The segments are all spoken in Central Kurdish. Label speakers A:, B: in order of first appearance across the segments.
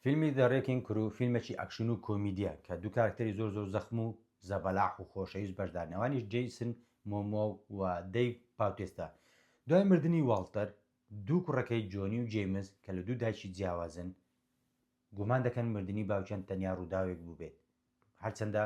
A: فیلمی The Wrecking Crew فیلمێکی ئەکشن و کۆمیدیە کە دوو کارکتەری زۆر زۆر زەخم و زەبەلاح و خۆشەویست بەشدارن ئەوانیش جەیسن مۆمۆ و دەیڤ باوتێستا دوای مردنی واڵتەر دوو کوڕەکەی جۆنی و جەیمس کە لە دوو دایکی جیاوازن گومان دەکەن مردنی باوکیان تەنیا ڕووداوێک بووبێت هەرچەندە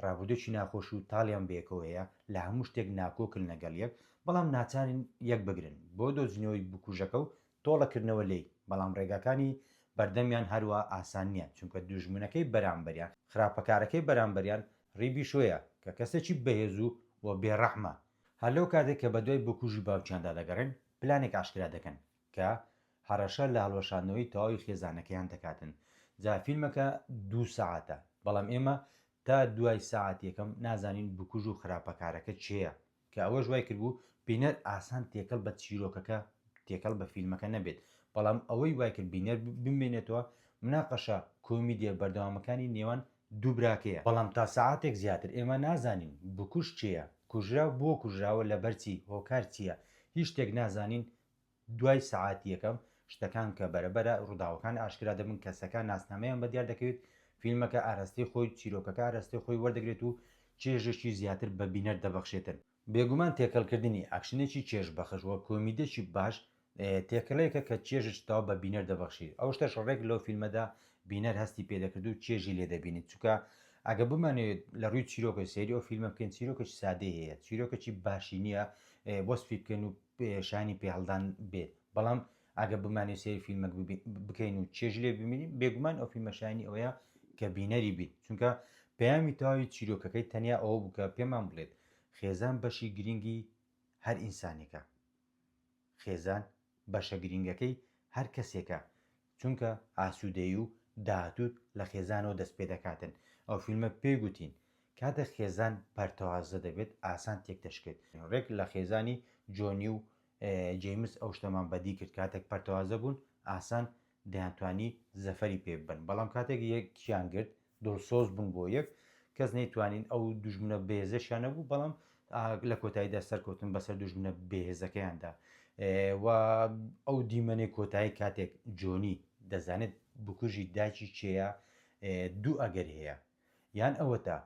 A: ڕابردووێکی ناخۆش و تاڵیان بەیەکەوە هەیە، لە هەموو شتێک ناکۆکن لەگەڵ یەک، بەڵام ناچارن یەک بگرن بۆ دۆزینەوەی بکوژەکە و تۆڵەکردنەوە لێی، بەڵام ڕێگاکانی بەردەمیان هەروا ئاسان نییە، چونکە دوژمنەکەی بەرامبەریان، خراپەکارەکەی بەرامبەریان ڕی بیشۆیە، کە کەسێکی بەهێز و و بێڕەحمە، هەر لەو کاتەی کە بەدوای بکوژی باوکیاندا دەگەڕێن، پلانێک ئاشکرا دەکەن، کە هەڕەشە لە هەڵوەشاندنەوەی تەواوی خێزانەکەیان دەکاتن جا فیلمەکە دوو سەعاتە بەڵام ئێمە تا دوای سەعات یەکەم نازانین بکوژ و خراپەکارەکە کێیە کە ئەوەش وای کردبوو بینەر ئاسان تێکەڵ بە چیرۆکەکە تێکەڵ بە فیلمەکە نەبێت بەڵام ئەوەی وای کرد بینەر بمێنێتەوە مناقەشە کۆمیدیە بەردەوامەکانی نێوان دوو براکەیە بەڵام تا سەعاتێک زیاتر ئێمە نازانین بکوژ کێیە کوژراو بۆ کوژراوە لەبەر چی هۆکار چییە هیچ شتێک نازانین دوای سەعات یەکەم شتەکان کە بەرە بەرە ڕووداوەکان ئاشکرا دەبن کەسەکان ناسنامەیان بە دیار دەکەوێت فیلمەکە ئاراستەی خۆی چیرۆکەکە ئاراستەی خۆی وەردەگرێت و چێژێکی زیاتر بە بینەر دەبەخشێتن. بێگومان تێکەڵکردنی ئەکشنێکی چێژ بەخش و کۆمیدێکی باش تێکەڵەیەکە کە چێژێکی تەواو بە بینەر دەبەخشیت ئەو شتەش ڕێک لەو فیلمەدا بینەر هەستی پێدەکرد و چێژی لێ دەبینیت چونکە ئەگە بمانەوێت لە ڕووی چیرۆکە سێری ئەو فیلمە بکەین چیرۆکەی سادەی هەیە چیرۆکەی باشی نییە وەسفی بکەین و شایەنی پێهەڵدان بێت بەڵام ئەگە بمانێ سێری فیلمەک بکەین و چێژ لێ ببینین بێگومان ئەو فیلمە شایانی ئەوەیە کە بینەری بیت چونکە پەیامی تەواوی چیرۆکەکەی تەنیا ئەوە بوو کە پێمان بڵێت خێزان بەشی گرنگی هەر ئینسانێکە خێزان بەشە گرنگەکەی هەر کەسێکە چونکە ئاسوودەیی و داهاتووت لە خێزانەوە دەست پێ دەکاتن ئەو فیلمە پێی گوتین کاتێک خێزان پەرتەوازە دەبێت ئاسان تێک دەشکێت ڕێک لە خێزانی جۆنی و جەیمس ئەو شتەمان بەدی کرد کاتێک پەرتەوازە بوون ئاسان دەیانتوانی زەفەری پێ ببەن بەڵام کاتێک یەکیان گرت دڵسۆز بوون بۆ یەک کەس نەیتوانین ئەو دوژمنە بەهێزەشیان نەبوو بەڵام لە کۆتاییدا سەرکەوتن بەسەر دوژمنە بەهێزەکەیاندا و ئەو دیمەنێ کۆتایی کاتێک جۆنی دەزانێت بکوژی داچی چێە دوو ئەگەر هەیە یان ئەوەتا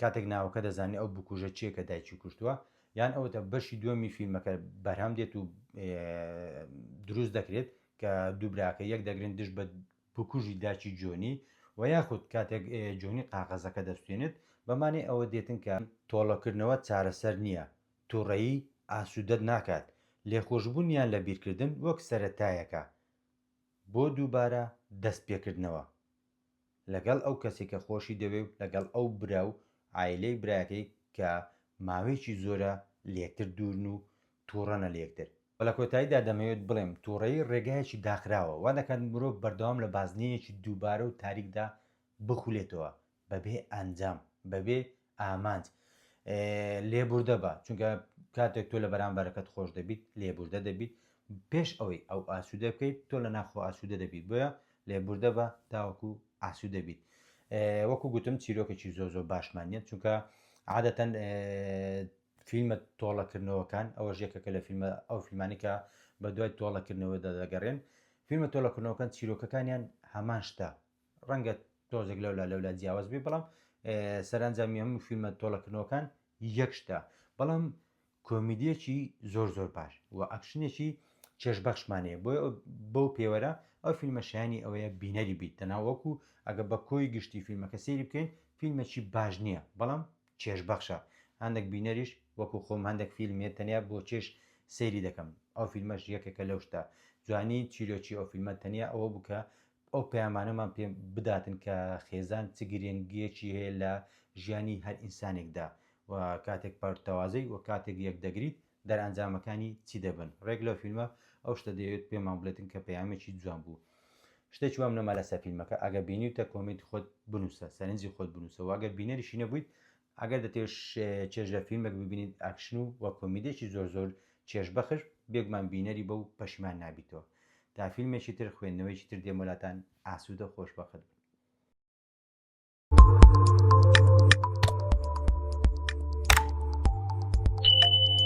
A: کاتێک ناوەکە دەزانێت ئەو بکوژە چیە کە دایکی کوشتووە یان ئەوەتە بەشی دووەمی فیلمەکە بەرهەم دێت و دروست دەکرێت کە دووبراکە یەک دەگرن دژ بە بکوژی داکی جۆنی و یاخود کاتێک جۆنی قاقەزەکە دەسوتێنێت بەمانەی ئەوە دێتن کە. تۆڵەکردنەوە چارەسەر نییە، توڕەیی ئاسودەت ناکات، لێخۆشبونیان لە بیرکردن وەک سەرەتایەکە بۆ دووبارە دەست پێکردنەوە لەگەڵ ئەو کەسی کە خۆشی دەوێ و لەگەڵ ئەو برا و عایلەی برایەکەی کە ماوەیەکی زۆرە لێکتر دوورن و تووڕەنە لە یەکتر. و لە کۆتاییدا دەمەوێت بڵێم تووڕەیی ڕێگایەکی داخراوە، وا دەکات مرۆڤ بەردەوام لە بازنەیەکی دووبارە و تاریکدا بخولێتەوە، بەبێ ئەنجام، بەبێ ئامانج. لێبوردە بە، چونکە کاتێک تۆ لە بەرامبەرەکەت خۆش دەبیت، لێبوردە دەبیت، پێش ئەوەی ئەو ئاسوودە بکەیت، تۆ لە ناخۆ ئاسوودە دەبیت، بۆیە لێبوردە بە تاوەکو ئاسوودە بیت. وەکو گوتم چیرۆکێکی زۆر زۆر باشمان نییە، چونکە عادەتەن فیلمە تۆڵەکردنەوەکان، ئەوەش یەکێکە لە فیلمە ئەو فیلمانەی کە بە دوای تۆڵەکردنەوەدا دەگەڕێن. فیلمە تۆڵەکردنەوەکان چیرۆکەکانیان هەمان شتە، ڕەنگە تۆزێک لەولا لەولا جیاواز بێ بەڵام سەرانجامی هەموو فیلمە تۆڵەکردنەوەکان یەک شتە. بەڵام کۆمیدیەکی زۆر زۆر باش و ئەکشنێکی چێژبەخشمان هەیە بۆیە ئەو- بەو پێوەرە ئەو فیلمە شایەنی ئەوەیە بینەری بیت تەنها وەکو ئەگە بە کۆی گشتی فیلمەکە سەیری بکەین فیلمێکی باش نییە بەڵام چێژ بەخشە هەندەک بینەریش وەکو خۆم هەندەک فیلم هەیە تەنیا بۆ چێژ سەیری دەکەم ئەو فیلمەش یەکێکە لەو شتە جوانی چیرۆکی ئەو فیلمە تەنیا ئەوە بوو کە ئەو پەیامانەمان پێ بداتن کە خێزان چ گرێنگیەکی هەیە لە ژیانی هەر ئینسانێکدا و کاتێک پەرتەوازەی و کاتێک یەکدەگریت دەرئەنجامەکانی چی دەبن ڕێک لەو فیلمە ئەو شتە دەیەوێت پێمان بڵێتن کە پەیامێکی جوان بوو شتێکی وام نەما لەسەر فیلمەکە ئەگەر بینیوتە کۆمێنتی خۆت بنووسە سەرنجی خۆت بنووسەوە ئەگەر بینەریشی نەبوویت ئەگەر دەتێش چێژ لە فیلمێک ببینیت ئاکشن و وە کۆمیدێکی زۆر زۆر چێژ بەخش بێگومان بینەری بە و پەشیمان نابیتەوە تا فیلمێکی تر خوێندنەوەیکی تر دێمەلاتان ئاسوودە خۆش بەخت بن